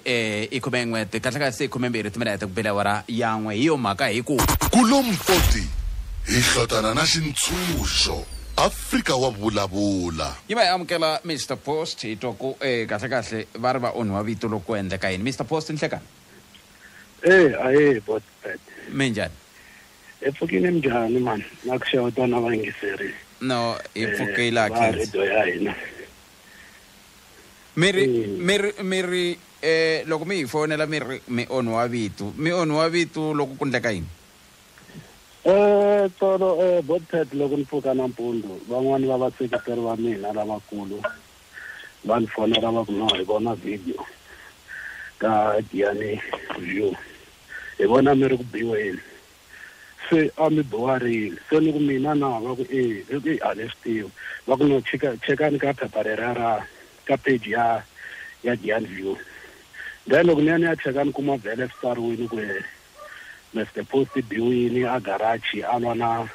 e i khumen'we kahlekahle i khumembirhi timinete ku bile awara yan'we hi yo mhaka hi ku Kulompoti hi hlotana na xintshunxo, Afrika wa vulavula. Yi va hi amukela Mister Post hi twa ku e kahlekahle va ri va onhiwa vito loko ku endleka yini Mister Post nhlekani. Hey ahee boss Pat. Minjhani? Hi pfukile minjhani mhani na ku xeweta na vayingiseri No hi pfukile hatlisa. va radio ya hina. mi ri Eh. mi ri mi ri eh loko mi hi fonela mi ri mi onhiwa vitu mi onhiwa vitu loko ku ndleka yini Eh, tolo eh, Bobcat loko ni pfuka nampundzu van'wani va vaseketeri va mina lavakulu va ni fonela va ku no hi vona video ka Giyani View hi vona mi ri ku biweni Se a mi biwa rini? Se ni ku, Mina na? Va ku, E. Ni ku, Eyi, a ni swi tivi. Va ku, No, chika, chekani ka phepha leriya ra, ka page ya, ya Giant View. Then loko ni ya ni ya cheka ni kuma vhele swi tsariwile ku, Mister Post i biwile a garage a lwa na,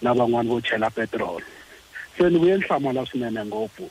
na van'wana vo chela petirolo. Se ni vuye ni hlamala swinene ngopfu.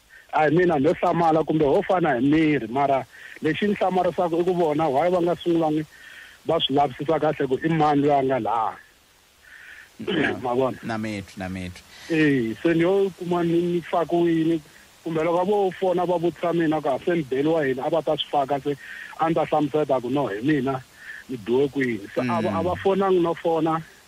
A hi mina nho hlamala kumbe ho fana hi miri, mara lexi ni hlamarisaka i ku vona why va nga sungulangi va swi lavisisa kahle ku i mani loyi a nga laa. Ma vona? Na mi twi, na mi twi. E, se ni yo kuma ni ni fakiwini kumbe loko vo fona va vutisa mina ku a se ni beliwa yini a va ta swi faka se a ni ta hlamuseta ku no hi mina ni biwe kwini. Se a va a va fonangi no fona.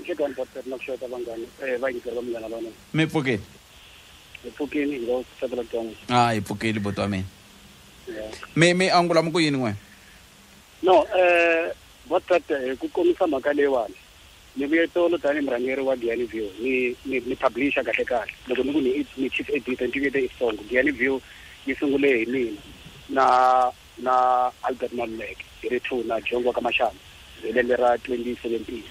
Nhlekani Baptist na ku xeweta vanghani eh vayingiseri va Munghana Lonene. Mi pfukile? Hi pfukile hi lo tsakela ku twa n'wina. Ha hi pfukile buti wa mina. Yeah. Mi mi angula mi ku yini n'wina? No eh Baptist hi ku komisa mhaka leyiwani ni vuye tolo tanihi murhangeri wa Giyani View ni ni ni publisher kahle kahle loko ni ku ni i ni chief editor ni tivuyete i switsongo. Giyani View yi sungule hi mina na na Albert Maluleke hi ri two na Dyondzo ka Mashamba hi lembe ra 2017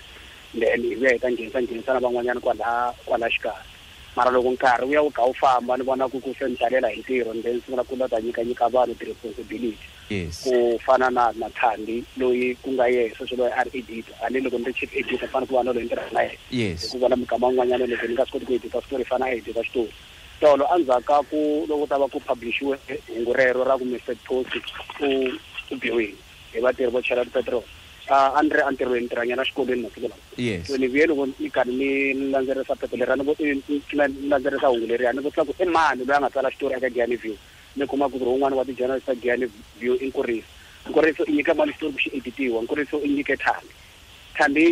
then hi vuya hi ta nghenisa nghenisa na van'wanyana kwala kwala xikarhi mara loko nkarhi wu ya wu kha wu famba ni vona ku ku se ni talela hi ntirho ni then sungula ku lota nyika nyika vanhu ti responsibility Yes. ku fana na na Thandi loyi ku nga ye sweswi loyi a ri editor a ni loko ni ri chief editor fana ku va na loyi ni tirhaka na yena Yes. hikuva na mikama yin'wanyana loko ni nga swi koti ku edita switori fana a edita xitori Tolo endzhaku ka ku loko ku ta va ku phablixiwe hungu rero ra ku Mister Thotsi u u biwile hi vatirhi vo chela tipetiroli, a a ni ri entirhweni, ntirhanyana xikolweni masiku lawa. Yes. Ni vuye loko ni karhi ni landzelerisa phepha leriya ni ku ni landzelerisa hungu leriya ni vutisa ku i mani loyi a nga tsala xitori eka Giyani View, ni kuma ku ku ri wun'wana wa ti-journalist ta Giyani View i Nkuriso. Nkuriso i nyike mani xitori ku xi edit-iwa? Nkuriso i nyike Thandi. Thandi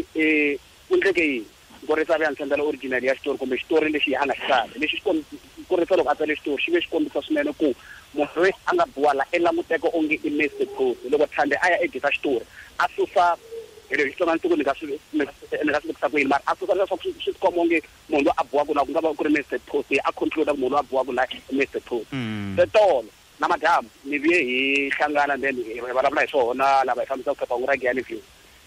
u endleke yini? Nkorisa a ve a ndzi sendela original ya xitori kumbe xitori lexi a nga xi tsala. Lexi xi komb, Nkorisa loko a tsale xitori xi ve xi kombisa swinene ku munhu loyi a nga biwa la i languteka onge i Mister Phosi. Loko Thandi a ya edita xitori a susa, hello, hi Xitsonga ni tiko ni nga swi, ni nga swi, ni nga swi vutisa ku yini mara a susa leswaku swi swi tikomba onge munhu loyi a biwaka la ku nga va ku ri Mister Phosi, a conclude-a ku munhu loyi a biwaka la i Mister Phosi. Se tolo. namadyambu ni vuye hi hlangana then hi vulavula hi swona lava hi fambisaka phephahungu ra Giyani View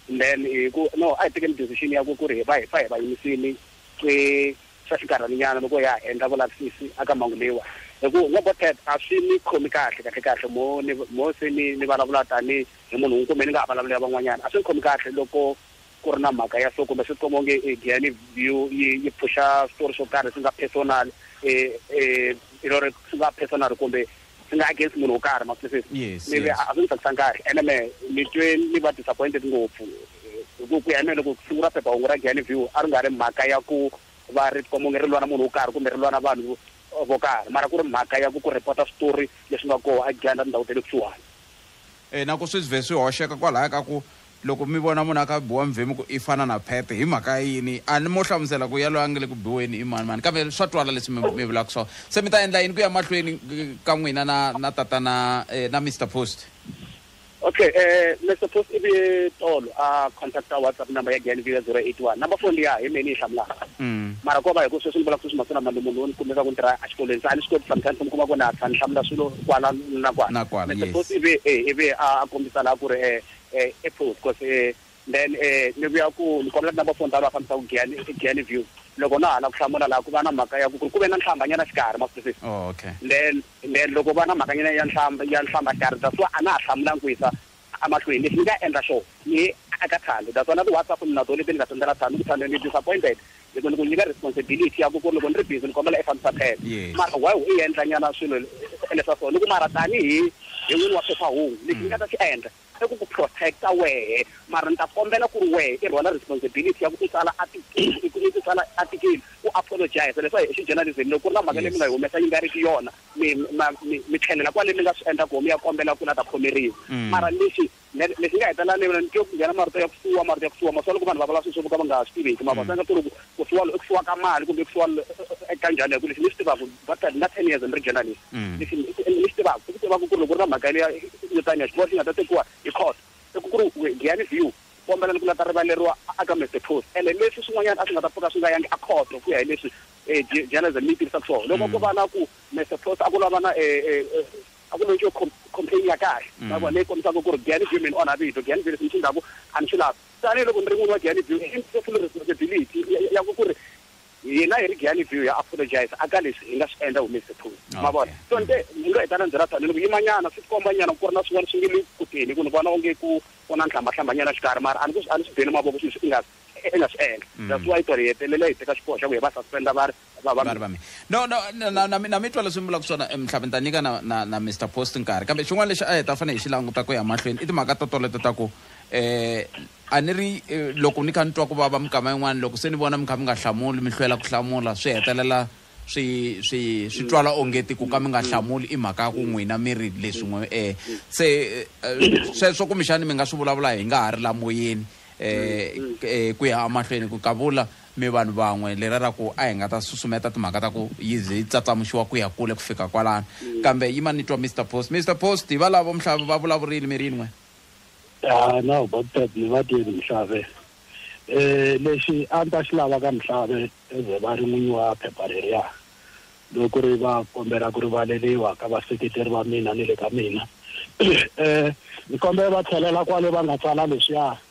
then hi ku no a hi tekeni decision ya ku ku ri hi va hi pfa hi va yimisile swi swa xinkarhana nyana loko ya ha endla vulavisisi aka mhangu leyiwa hi ku no bo Ted a swi ni khomi kahle kahle kahle mo ni mo se ni ni vulavula tani hi munhu un'we kumbe ni nga ha vulavulela van'wanyana a swi ni khomi kahle loko ku ri na mhaka ya so kumbe swi tikomba onge e Gianni View yi yi pfuxa switori swo karhi swi nga personal e e you know ri swi nga personal kumbe swi nga against munhu wo karhi ma swi twisisa Yes, ni ve yes. a a swi ni tsakisanga kahle ene me ni twe ni va disappointed ngopfu hi ku ku ya hi mehe loko ku sungula phephahungu ra Gianni View a ri nga ri mhaka ya ku va ri tikomba onge ri lwa na munhu wo karhi kumbe ri lwa na vanhu vo karhi mara ku ri mhaka ya ku ku report-a switori leswi nga koho a Giyani na tindhawu ta le kusuhani E na ku swi vhe swi hoxeka kwalaya ka ku Loko mi vona munhu a kha a biwa mi vhe mi ku, I fana na Phephe. Hi mhaka yini? A ni mo hlamusela ku yaloye a nge le ku biweni i mani-mani, kambe swa twala leswi mi mi vulaka swona. Se mi ta endla yini ku ya mahlweni ka n'wina na na Tatana na Mister Post? Ok, Mister Post i vuye tolo a contact-a WhatsApp number ya Giyani View ya 081. Number phone liya hi mehe ni yi hlamulaka. Mara ko va hi ku sweswi ni vulaka sweswi masiku lama ni munhu wo ni kumeka ku ni tirha a xikolweni, se a ni swi koti sometimes ku mi kuma ku na tlhela ni hlamula swilo kwala na kwala. Mister Post i vuye e i vuye a kombisa laha ku ri e Eh, e put cause eh, then eh, ni vuya ku ni kombela number phone ta loyi a fambisaka giyani giyani view loko na hala ku hlamula laha ku va na mhaka ya ku ku ri ku ve na nhlambanyana xikarhi maphusisi oh, okay then then loko va na mhakanyana ya nhlamba ya nhlamba xikarhi that's why a na ha hlamulangi ku yisa amahlweni lexi ni nga endla xona ni aka thando that's why na ti-whatsapp ni na tona leti ni nga sendela thando ku thando ni disappointed hi ku ni ku nyika responsibility ya ku ku ri loko ni ri busy ni kombela i fambisa phepha Yes. mara why u endla nyana swilo leswa so ni ku mara tanihi hi n'wini wa phephahungu lexi ni nga ta xi endla i ku ku protecta wehe mara ni ta kombela ku ri wehe i rhwala responsibility ya ku i tsala article- i ku- i ku tsala article u apologize leswa hi xijournalism loko ku ri na mhaka leyi mi nga yi humesa yi nga ri ki yona mi ma- mi mi tlhelela kwale mi nga swi endla koho mi ya kombela ku la ta khomeriwa mara lexi Ne- ne- lexi nga hetelela ni vona ni twe ku nghena marito ya ku fiwa marito ya ku fiwa masiwa loko vanhu va vulavula swilo swo ka va nga swi tiveki mavona sanga ku ri ku- ku fiwa lo- ku fiwa ka mali kumbe ku fiwa lo- eka njhani hi ku lexi ni xi tivaka va ta na ten years ni ri genda lexi Mm. lexi ni xi- ni xi tivaka i ku tivaka ku ri loko ri na mhaka leya yo taniya xiboho xi nga ta tekiwa hi court i ku ku ri we- giyani view kombela ni ku la ta rivaleriwa a- aka mr post ene leswi swin'wanyana a swi nga ta pfuka swi nga yangi a court ku ya hi leswi um journalism yi tirhisaka swona loko ko va na ku mr post a ku lava na um a ku lexo complain ya kahle mm. ma vona leyi kombisaka ku ri Giyani View mi ni onha vito Giyani View leswi mi swi ndlaku a ni swi lavi tanihi loko ni ri n'wini wa Giyani View i ndzi full responsibility ya ku ku ri hina hi ri Giyani View ya apologize a ka leswi hi nga swi endla humesi tiphuzi ma vona so nte ni lo heta na ndzela tani ni ku yimanyana swi tikomba nyana ku ri na swin'wana swi nge le kuteni ku ni vona onge ku ku na nhlambhahlamba nyana xikarhi mara a ni ku a ni swi beni mavoko swilo leswi i nga i nga swi endla mm. that's why ku ri hetelela hi teka xiboho xa ku hi va suspenda va ri vavanuna vami no no na- na- na mi- na mi twa leswi mi vulaka swona eh, mhlave ni ta nyika na, na, na mr post nkarhi kambe xin'wana lexi a hi ta fanele hi xi languta ku ya mahlweni i timhaka to toleto ta ku eh a ni ri eh, loko ni kha ni twa ku vava minkama yin'wana loko se ni vona mi kha mi nga hlamuli mi hlwela ku hlamula swi hetelela swi swi swi twala ongeti ku ka mi nga hlamuli i mhaka ya ku n'wina mi ri leswin'we eh se eh, eh, sweswo kumbexani mi nga swi vulavula hi nga ha ri lamoyeni eh eh, ku ya emahlweni ku kavula Mi vanhu van'we, leriya ra ku a hi nga ta susumeta timhaka ta ku yi ze yi tsatsamuxiwa ku ya kule ku fika kwalano. Kambe yima ni twa Mister Post. Mister Post, hi valavo Mhlave va vulavurile mi rin'we. Haa, now about that, mi va twile Mhlave. Lexi a ni ta xi lava ka Mhlave as a va ri n'winyi wa phepha leriya, loko ku ri va kombela ku rivaleriwa ka vaseketeri va mina ni le ka mina, ni kombela va tlhelela kwale va nga tsala leswiya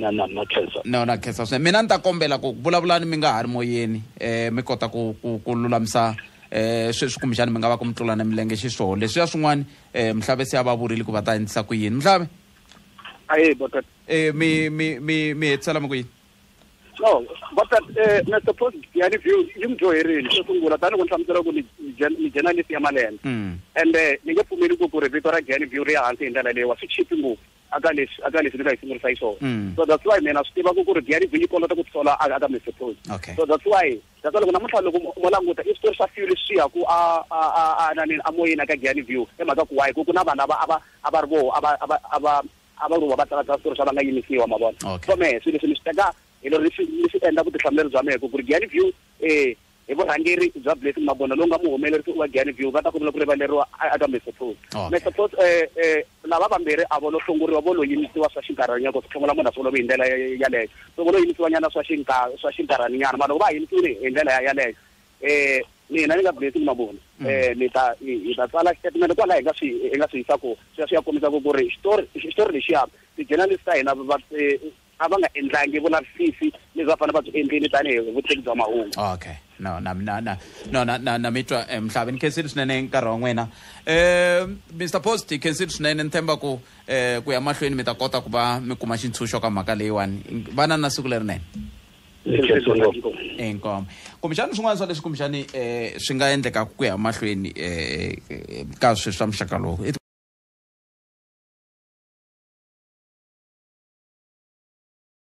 na na na khensa no na khensa swinene mina ni ta kombela ku vulavulani mi nga ha ri moyeni um mi kota ku ku ku lulamisa um sweswi kumbexani mi nga va ku mi tlula na milenge xiswoo leswiya swin'wana um mhlave se a va vurile ku va ta endlisa ku yini mhlave aye bota um mi mi mi mi hetisela mi ku yini no but uh, eh, mr president ya ni view yi mi dyoherile xo sungula tani ku ni hlamusela ku ni journalist ya malembe mm. and eh, ni nge pfumeli ku ku ri vito ra gani view ri ya hansi hi ndlela leyiwa swi chipi ngopfu aka leswi aka leswi ni nga yi sungurisa yi swona mm. so that's why mina swi tiva ku ku ri gani view yi kolota ku tisola aka mr president so that's why that's why loko namuntlha loko mo languta i switori swa few leswi ya ku a a a a nanini a moyeni aka gani view hi mhaka ku wayi ku ku na vanhu ava ava a va ri voho a va a va a va a va va tsaka tsaka switori swa va nga yimisiwa ma vona Okay. so mehe swilo leswi ni swi teka hi lero ni swi ni swi endla vutihlamuleri bya mehe ku ku ri giani view eh hi vurhangeri bya blessing magona lowu nga muhumelerisi wa giani view va ta kombela ku rivaleriwa a- aka mr pos Okay. mr pos eh eh lava vambirhi a vo lo hlongoriwa vo lo yimisiwa swa xinkarhanyana ku tlhongola munhu a swi olovi hi ndlela ya- ya- yaleyo so vo lo yimisiwanyana swa xinka- swa xinkarhaninyana mara loko va ha yimisiwile hi ndlela ya- yaleyo eh mina ni nga blessing mavona mm. eh ni ta hi ta tsala statement kwala hi nga swi hi nga swi yisa ku swi swi ya kombisa ku ku ri xitori xitori lexiya ti-journalist ta hina va eh, a va nga endlangi vulavisisi leswi va fanele va byi endlini tanihi vutivi bya mahungu okay no na na na no na na na mitwa eh, mhlavi ni khensile swinene nkarhi wa n'wina eh Mr Post hi khensile swinene ni themba ku eh ku ya mahlweni mi ta kota ku va mi kuma xintshunxo ka mhaka leyiwani vana na siku lerinene inkomo kumbexani swin'wana swa leswi kumbexani eh, swi nga endleka ku ya mahlweni eh, eh, ka sweswi swa muxaka lowu